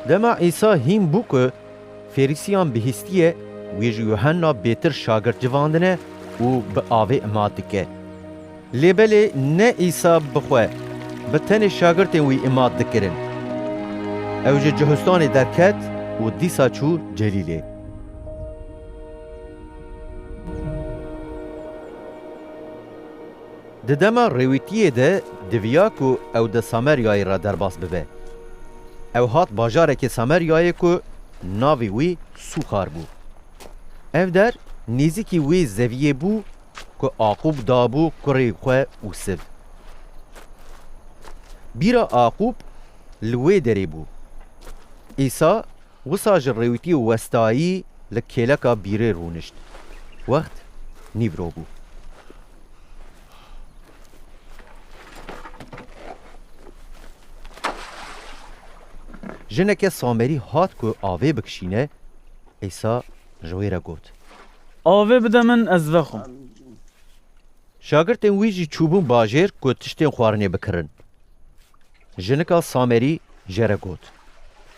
Dema Îsa hîn bû ku Ferîsiyan bihîstiye, wî ji Yuhanna bêtir şagirt civandine û bi avê ima dike. Lê belê ne Îsa bi xwe, bi tenê şagirtên wî ima dikirin. Ew ji cihistanê derket û dîsa çû Celîlê. Di dema rêwîtiyê de diviya ku ew di Sameryayê re derbas bibe. Ew hat bajarekê Sameryayê ku navê wî Sûxar bû. Ev der nêzîkî wê zeviyê bû ku Aqûb dabû kurê xwe û siv. Bîra Aqûb li wê derê bû. Îsa wisa ji rêwîtiyê westayî li kêleka bîrê rûnişt. Wext nîvro bû. Jineke Samerî hat ku avê bikişîne, Îsa ji wê re got. Avê bide min ez vexwim. Şagirtên wî jî çûbûn bajêr ku tiştên xwarinê bikirin. Jinika Samerî jê re got.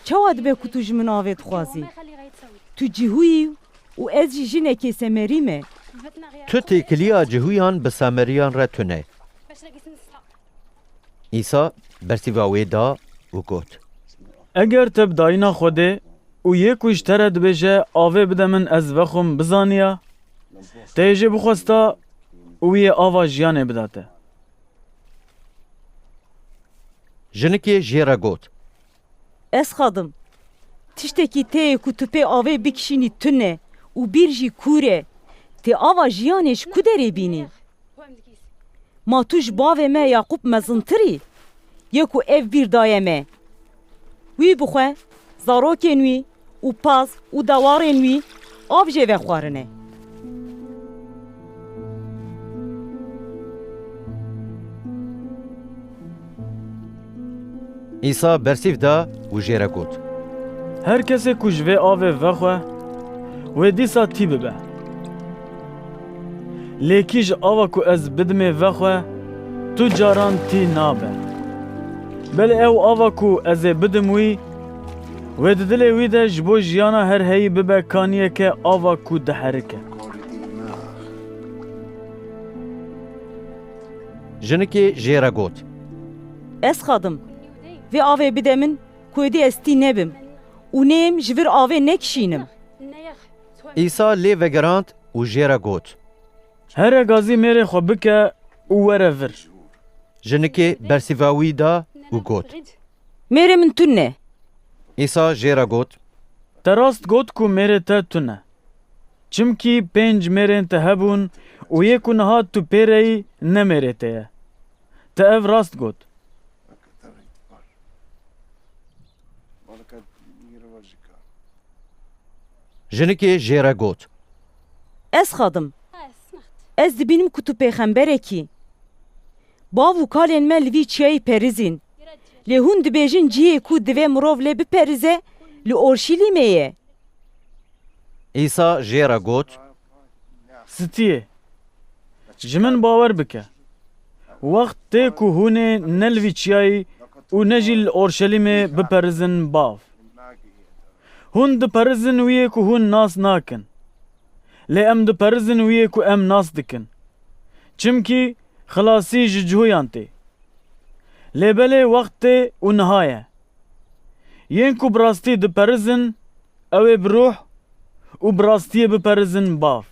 Çawa dibe ku tu ji min avê dixwazî? Tu cihû yî Û ez jî jinekê semerî me. Tu têkiliya cihûyan bi sameriyan re tune. Îsa bersîva wê da û got. Eger te bi dayîna xwe dê û yê ku ji te re dibêje avê bide min ez vexwim bizaniya, te yê jê bixwesta û wî yê ava jiyanê bida te. Jinikê jê re got. Ez xadim. Tiştekî tê ku tu pê avê bikişînî tune û bîr jî kûr e. Tê ava jiyanê ji ku derê bînî? Ma tu ji bavê me Yaqûb mezintir î? Ye ku ev bîr daye me. Wî bixwe, zarokên wî. û paz û dawarên wî av jê vexwarine. Îsa bersîv da û jê re got. Her kesê ku ji vê avê vexwe, wê dîsa tî bibe. Lê kî ji ava ku ez bidimê vexwe, tu caran tî nabe. Belê ew ava ku ez ê bidim wî, Wê di dilê wî de ji bo jiyana her heyî bibe kaniyeke ava ku diherike. Jinikê jê re got. Ez xadim. Vê avê bide min ku êdî ez tî nebim û neyêm ji vir avê nekişînim. Îsa lê vegirand û jê re got. Here gazî mêrê xwe bike û were vir. Jinikê bersîva wî da û got. Mêrê min tune ye. Îsa jê re got. Te rast got ku mêrê te tune ye. Çimkî pênc mêrên te hebûn û yê ku niha tu pê re yî ne mêrê te ye. Te ev rast got. Jinikê jê re got. Ez xwe dim. Ez dibînim ku tu pêxemberekî yî. Bav û kalên me li vî çiyayî perizîn. Lê hûn dibêjin cihê ku divê mirov lê biperize li Orşîlîmê ye. Îsa jê re got. Stiyê, ji min bawer bike, wext tê ku hûnê ne li vî çiyayî û ne jî li Orşelîmê biperizin Bav. Hûn diperizin wî yê ku hûn nas nakin. Lê em diperizin wî yê ku em nas dikin. Çimkî xilasî ji cuyan tê. Lê belê wext tê û niha ye. Yên ku bi rastî diperizin ew ê bi ruh û bi rastiyê biperizin bav.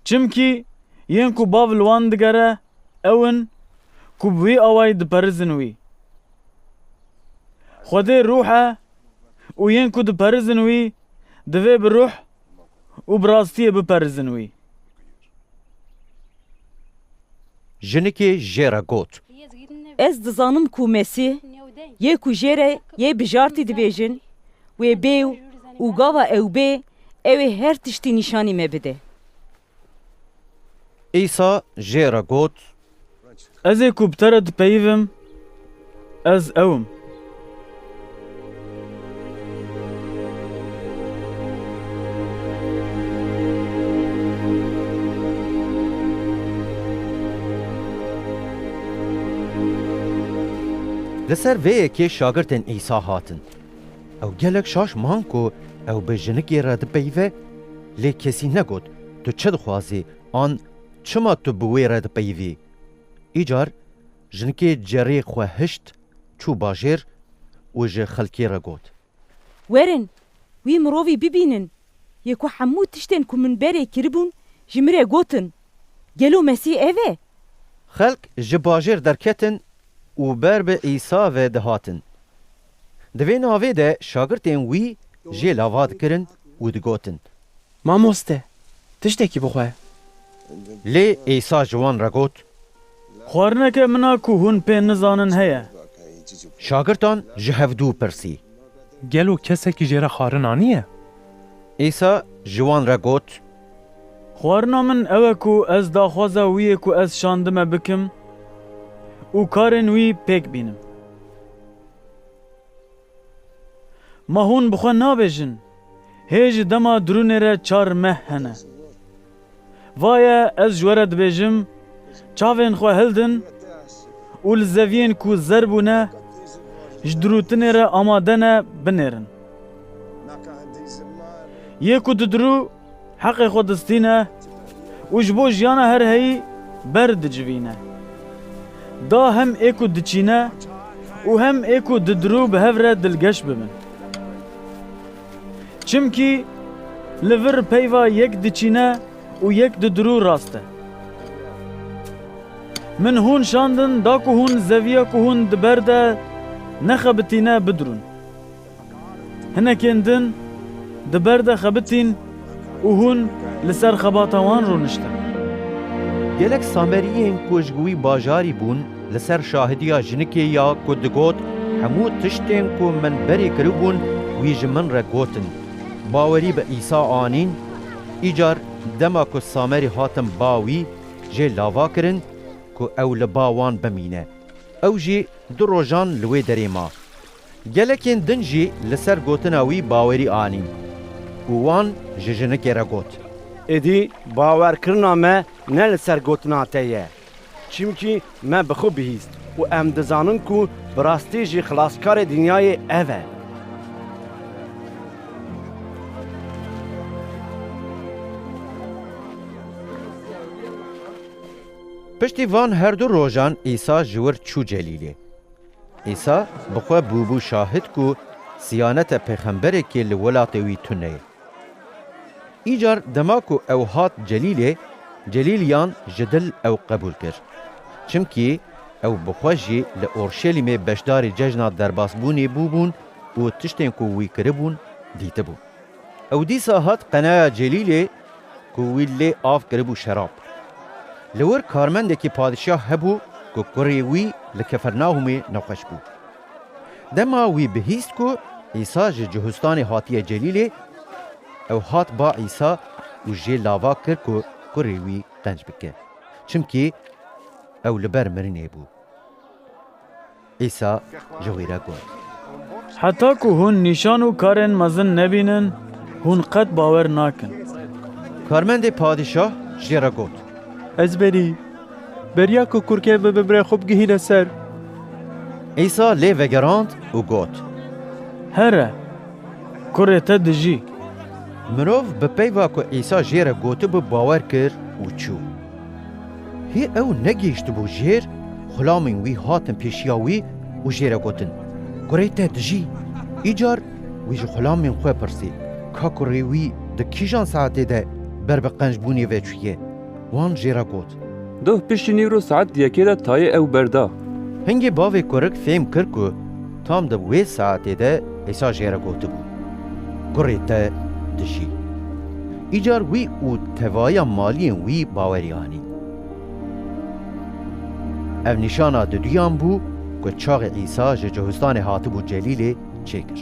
Çimkî yên ku bav li wan digere ew in ku bi wî awayî diperizin wî. Xwedê ruh e û yên ku diperizin wî divê bi ruh û bi rastiyê biperizin wî. Jinikê jê re got. Ez dizanim ku Mesîh yê ku jê re yê bijartî dibêjin, wê bê û gava ew bê ew ê her tiştî nîşanî me bide. Îsa jê re got. Ez ê ku bi te re dipeyivim, ez ew im. Li ser vê yekê şagirtên Îsa hatin. Ew gelek şaş man ku ew bi jinikê re dipeyive, lê kesî negot, Tu çi dixwazî? An çima tu bi wê re dipeyivî? Îcar jinkê cerê xwe hişt, çû bajêr û ji xelkê re got. Werin, wî mirovî bibînin yê ku hemû tiştên ku min berê kiribûn ji min re gotin. Gelo Mesîh ev e? Xelk ji bajêr derketin û ber bi Îsa ve dihatin. Di vê navê de şagirtên wî jê lava dikirin û digotin, Mamoste, tiştekî bixwe. Lê Îsa ji wan re got. Xwarineke min a ku hûn pê nizanin heye. Şagirdan ji hev dû pirsî. Gelo kesekî jê re xwarin aniye? Îsa ji wan re got. Xwarina min ew e ku ez daxwaza wî yê ku ez şandime bikim û karên wî pêk bînim. Ma hûn bi xwe nabêjin, Hê ji dema dirûnê re çar meh hene. Va ye ez ji we re dibêjim, çavên xwe hildin û li zeviyên ku zer bûne ji dirûtinê re amade ne, binêrin. Yê ku didirû. Heqê xwe distîne û ji bo jiyana her heyî ber dicivîne. Da hem ê ku diçîne û hem ê ku didirû bi hev re dilgeş bibin. Çimkî li vir peyva yek diçîne û yek didirû rast e. Min hûn şandin da ku hûn zeviya ku hûn di ber de nexebitîne bidirûn. Hinekên din di ber de xebitîn û hûn li ser xebata wan rûniştin. Gelek Sameriyên ku ji wî bajarî bûn li ser şahidiya jinikê ya ku digot, Hemû tiştên ku min berê kiribûn wî ji min re gotin. Bawerî bi Îsa anîn. Îcar dema ku Samerî hatin ba wî, jê lava kirin ku ew li ba wan bimîne. Ew jî du rojan li wê derê ma. Gelekên din jî li ser gotina wî bawerî anîn û wan ji jinikê re got. Êdî bawerkirina me ne li ser gotina te ye. Çimkî me bi xwe bihîst û em dizanin ku bi rastî jî Xilaskarê dinyayê ev e. Piştî van herdu rojan Îsa ji wir çû Celîlê. Îsa bi xwe bûbû şahid ku siyanete pêxemberekê li welatê wî tune ye. Îcar dema ku ew hat Celîlê, Celîl yan ji dil ew qebûl kir. Çimkî ew bi xwe jî li Orşelîmê beşdarî cejna derbasbûnê bûbûn û tiştên ku wî kiribûn dîtibû. Ew dîsa hat qenaya Celîlê. ku wî lê av kiribû şerab. Li wir karmendekî padişah hebû ku kurê wî li Kifirnahûmê nexweş bû. Dema wî bihîst ku Îsa ji Cuhustanê hatiye Celîlê, ew hat ba Îsa û jê lava kir ku kurê wî qenc bike, çimkî ew li ber mirinê bû. Îsa ji wî re got. Heta ku hûn nîşan û karên mezin nebînin, hûn qet bawer nakin. Karmendê padîşah jê re got. Ez berî, beriya ku kurkê bi bibrê xwe bigihîne ser. Îsa lê vegerand û got. Here, kurê te dijî. Mirov bi peyva ku Îsa jê re gotibû bawer kir û çû. Hê ew negihiştibû jêr, xulamên wî hatin pêşiya wî û jê re gotin, Kurê te dijî? Îcar wî ji xulamên xwe pirsî, Ka kurê wî di kîjan saetê de ber bi qençbûnê ve çûye? Wan jê re got. Doh piştî nîvro saet yekê de tayê ew berda. Hingê bavê kurik fêm kir ku. Tam di wê saetê de Îsa jê re gotibû, Kurê te dijî. Îcar wî û tevaya maliyên wî bawerî anî. Ev nîşana di duyan bû ku çaxê Îsa ji Cihustanê hatibû Celîlê çêkir.